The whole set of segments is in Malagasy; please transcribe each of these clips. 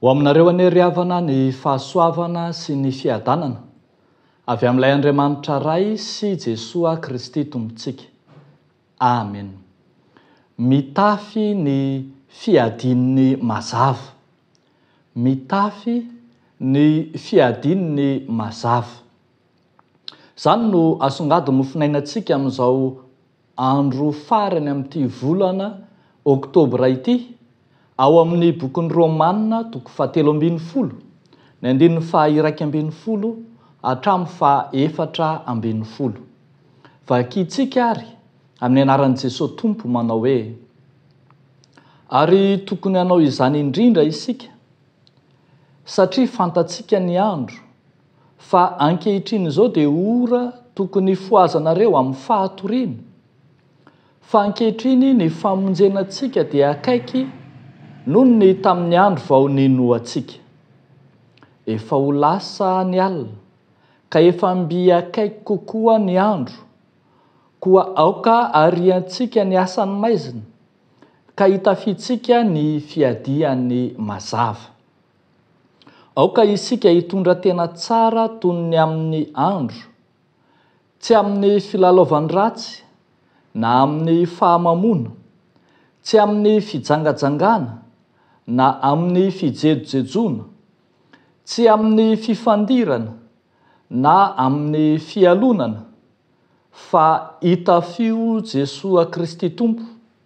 Ho aminareo anie ry havana ny fahasoavana sy ny fiadanana avy amin'ilay Andriamanitra Ray sy Jesoa Kristy Tompontsika. Amen. Mitafy ny fiadian'ny mazava. Mitafy ny fiadian'ny mazava. Izany no asongadin'ny mofinainantsika amin'izao andro farany amin'ity volana oktobra ity, ao amin'ny Bokin'ny Romana, toko fahatelo ambin'ny folo, ny andininy faha-iraika ambin'ny folo hatramin'ny faha-efatra ambin'ny folo. Vakintsika àry, amin'ny anaran'i Jesoa Tompo, manao hoe, Ary tokony hanao izany indrindra isika, satria fantatsika ny andro, Fa ankehitriny izao dia ora tokony hifohazanareo amin'ny fahatoriana. Fa ankehitriny ny famonjena antsika dia akaiky noho ny tamin'ny andro vao ninoantsika. Efa ho lasa ny alina, ka efa mby akaiky kokoa ny andro. Koa aoka hariantsika ny asan'ny maizina, ka hitafiantsika ny fiadiany mazava. Aoka isika hitondra tena tsara toy ny amin'ny andro, tsy amin'ny filalaovan-dratsy na amin'ny fahamamoana, tsy amin'ny fijangajangana na amin'ny fijejojejoana, tsy amin'ny fifandirana na amin'ny fialonana, fa itafio Jesoa Kristy Tompo,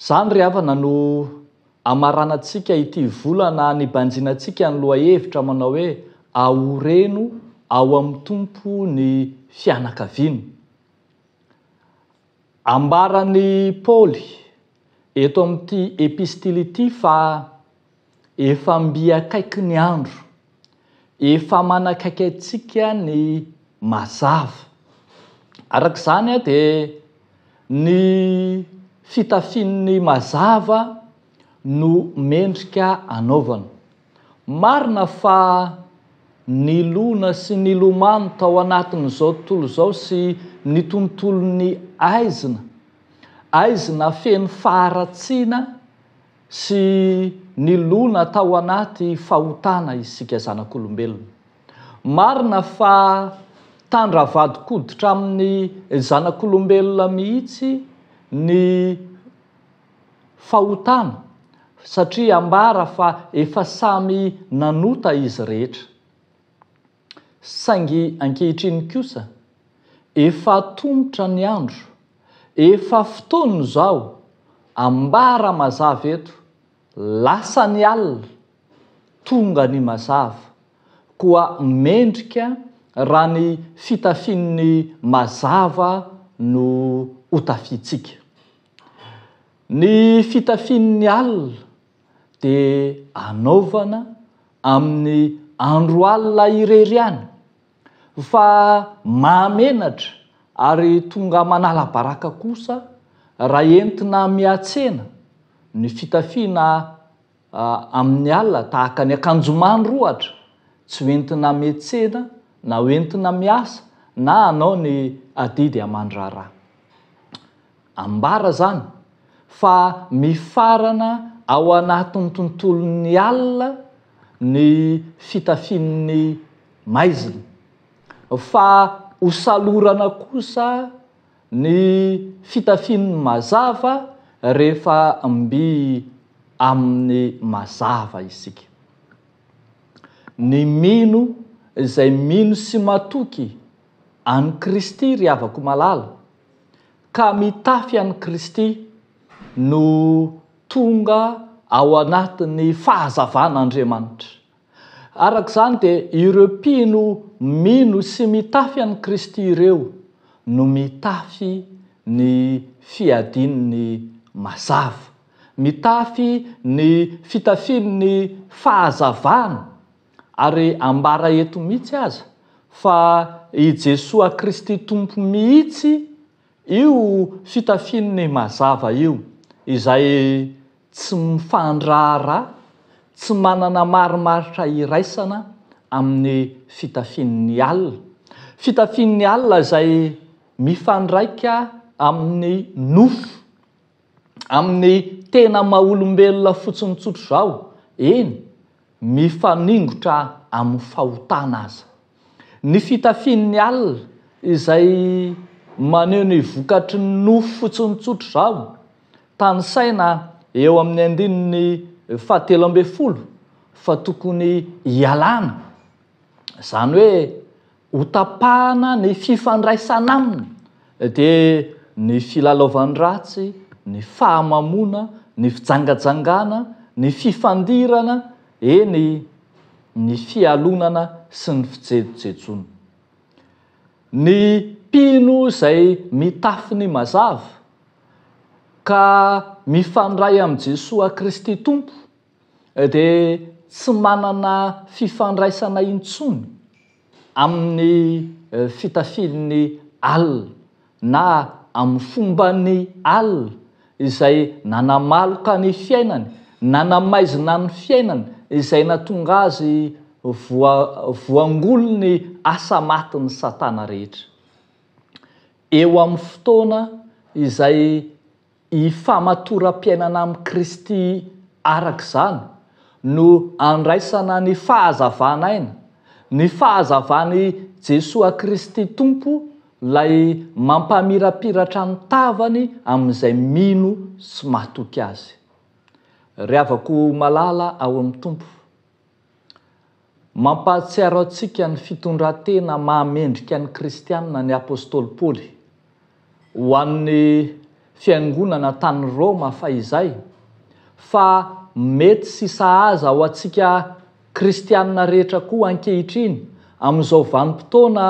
Izany ry havana no hamaranantsika ity volana nibanjina antsika ny lohahevitra manao hoe Ahoreno ao amin'ny Tompo ny fianakaviana. Ambaran'i Paoly eto amin'ity epistily ity fa. Efa mby akaiky ny andro. Efa manakaiky antsika ny mazava. Araka izany dia ny fitafian'ny mazava no mendrika anaovana. Marina fa nilona sy nilomano tao anatin'izao tontolo izao sy ny tontolon'ny aizina, aizina feno faharatsiana, sy nilona tao anaty fahotana isika zanak'olombelona. Marina fa tandra vadin-koditra amin'ny zanak'olombelona mihitsy ny fahotana satria ambara fa efa samy nanota izy rehetra. Saingy ankehitriny kosa, efa atomotra ny andro, efa fotoana izao, ambara mazava eto, lasa ny alina, tonga ny mazava, koa mendrika raha ny fitafian'ny mazava no hotafiantsika. Ny fitafian'ny alina. dia anaovana amin'ny andro alina irery ihany, fa mahamenatra ary tonga manala baraka kosa raha entina mihatsena ny fitafiana amin'ny alina tahaka ny akanjomandry ohatra, tsy ho entina mihatsena na ho entina miasa na hanao ny adidy aman-draharaha. Ambara izany fa mifarana ao anatin'ny tontolon'ny alina ny fitafian'ny maizina, fa hosalorana kosa ny fitafian'ny mazava rehefa mby amin'ny mazava isika. Ny mino izay mino sy matoky an'i Kristy, ry havako malala, ka mitafy an'i Kristy no tonga ao anatin'ny fahazavan'Andriamanitra. Araka izany dia ireo mpino mino sy mitafy an'i Kristy ireo no mitafy ny fiadian'ny mazava, mitafy ny fitafian'ny fahazavana Ary ambara eto mihitsy aza fa i Jesoa Kristy Tompo mihitsy io fitafiany mazava io, izay tsy mifandraharaha, tsy manana marimaritra iraisana amin'ny fitafian'ny alina. Fitafian'ny alina izay mifandraika amin'ny nofo, amin'ny tena maha-olombelona fotsiny tsotr'izao, eny, mifaningotra amin'ny fahotana aza. Ny fitafian'ny alina, izay maneho ny vokatry ny nofo fotsiny tsotr'izao, tanisaina eo amin'ny andininy fahatelo ambin'ny folo fa tokony hialana, izany hoe Hotapahana ny fifandraisana aminy, dia ny filalaovan-dratsy, ny fahamamoana, ny fijangajangana, ny fifandirana, eny, ny fialonana sy ny fijejojejoana. Ny mpino izay mitafy ny mazava, ka mifandray amin'i Jesoa Kristy Tompo, dia tsy manana fifandraisana intsony amin'ny fitafian'ny alina na amin'ny fomban'ny alina izay nanamaloka ny fiainany, nanamaizina ny fiainany izay natonga azy voa, voangolin'ny asa matin'i Satana rehetra. Eo amin'ny fotoana izay. Ny famatoram-piainana amin'i Kristy araka izany no andraisana ny fahazavan'aina, ny fahazavan'i Jesoa Kristy Tompo ilay mampamirapiratra ny tavany amin'izay mino sy matoky Azy. Ry havako malala ao amin'ny Tompo, Mampahatsiaro antsika ny fitondran-tena maha mendrika ny kristiana ny apostoly Paoly. Ho an'ny fiangonana tany Roma fahizay, fa mety sy sahaza ho antsika kristiana rehetra koa ankehitriny amin'izao vanim-potoana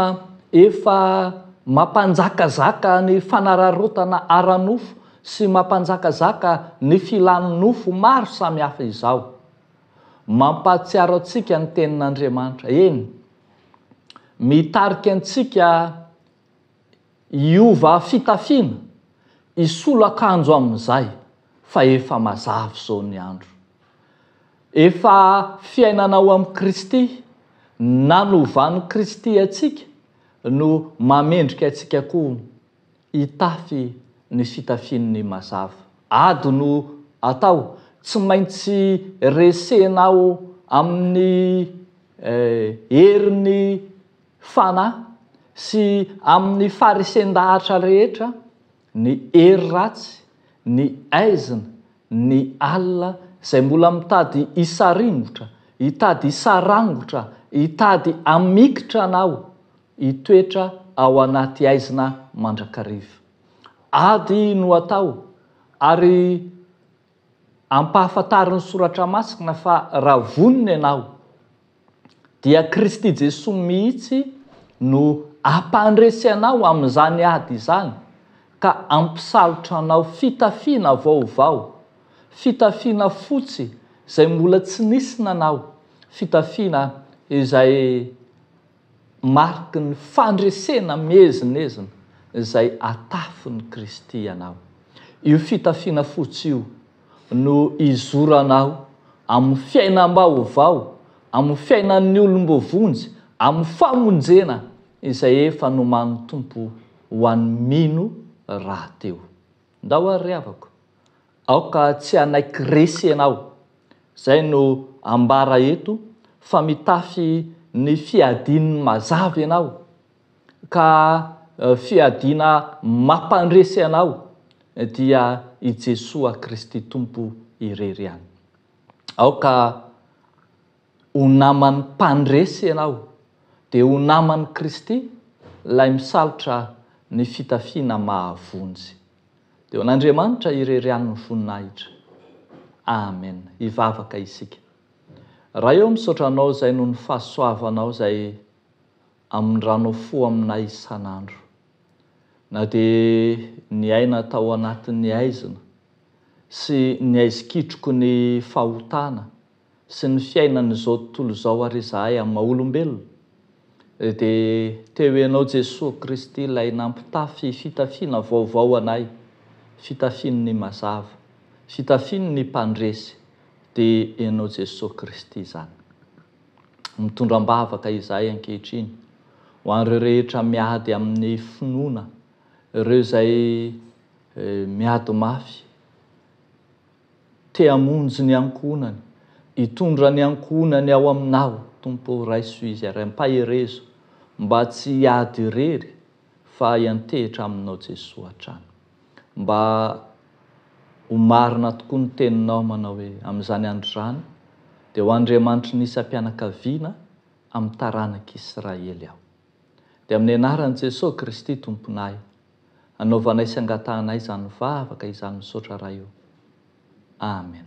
efa mampanjakazaka ny fanararaotana ara-nofo sy mampanjakazaka ny filan'ny nofo maro samihafa izao. Mampahatsiaro antsika ny Tenin'Andriamanitra, eny, mitarika antsika hiova fitafiana, hisolo akanjo amin'izay fa efa mazava izao ny andro. Efa fiainana ao amin'i Kristy, nanovan'i Kristy antsika no mamendrika antsika koa. Hitafy ny fitafian'ny mazava. Ado no atao, tsy maintsy resena ao amin'ny herin'ny Fanahy sy amin'ny faharesen-dahatra rehetra ny hery ratsy, ny aizina, ny alina izay mbola mitady hisaringotra, hitady hisarangotra, hitady hamikitra anao Hitoetra ao anaty haizina mandrakariva. Ady no atao ary ampahafantarin'ny Soratra Masina fa raha vonona ianao dia Kristy Jesoa mihitsy no ampandresy anao amin'izany ady izany ka ampisalotra anao fitafiana vaovao, fitafiana fotsy izay mbola tsy nisy nanao, fitafiana izay. Mariky ny fandresena miezinezina izay atafin'i Kristy anao. Io fitafiana fotsy io no izoranao amin'ny fiainam-baovao, amin'ny fiainan'ny olom-boavonjy, amin'ny famonjena izay efa nomanin'ny Tompo ho an'ny mino rahateo. Ndao ary ry havako, Aoka tsy hanaiky resy ianao. Izay no ambara eto fa mitafy ny fiadian'ny mazava ianao ka fiadiana mampandresy anao dia i Jesoa Kristy Tompo irery ihany. Aoka ho naman'ny mpandresy ianao dia ho naman'i Kristy ilay misalotra ny fitafiana mahavonjy. Dia ho an'Andriamanitra irery ihany ny voninahitra. Amen. Hivavaka isika. Ray ô misaotra Anao izay noho ny fahasoavanao izay amindranao fo aminay isan'andro. Na dia niaina tao anatin'ny haizina sy ny haizikitroky ny fahotana sy ny fiainan'izao tontolo izao ary izahay amin'ny maha olombelona dia teo ianao Jesoa Kristy ilay nampitafy fitafiana vaovao anay fitafian'ny mazava fitafian'ny mpandresy dia ianao Jesoa Kristy izany mitondra am-bavaka izahay ankehitriny ho an'ireo rehetra miady amin'ny finoana ireo izay miady mafy Te hamonjy ny ankohonany, hitondra ny ankohonany ao Aminao, Tompo ô, raiso izy ary ampaherezo mba tsy hiady irery fa hiantehitra Aminao Jesoa hatrany. Mba ho marina tokoa ny Teninao manao hoe, amin'izany andro izany dia ho Andriamanitry ny isam-pianakaviana amin'ny taranak'Israely aho. Dia amin'ny anaran'i Jesoa Kristy Tomponay. Anaovanay sy angatahanay izany vavaka izany misaotra Ray o. Amen.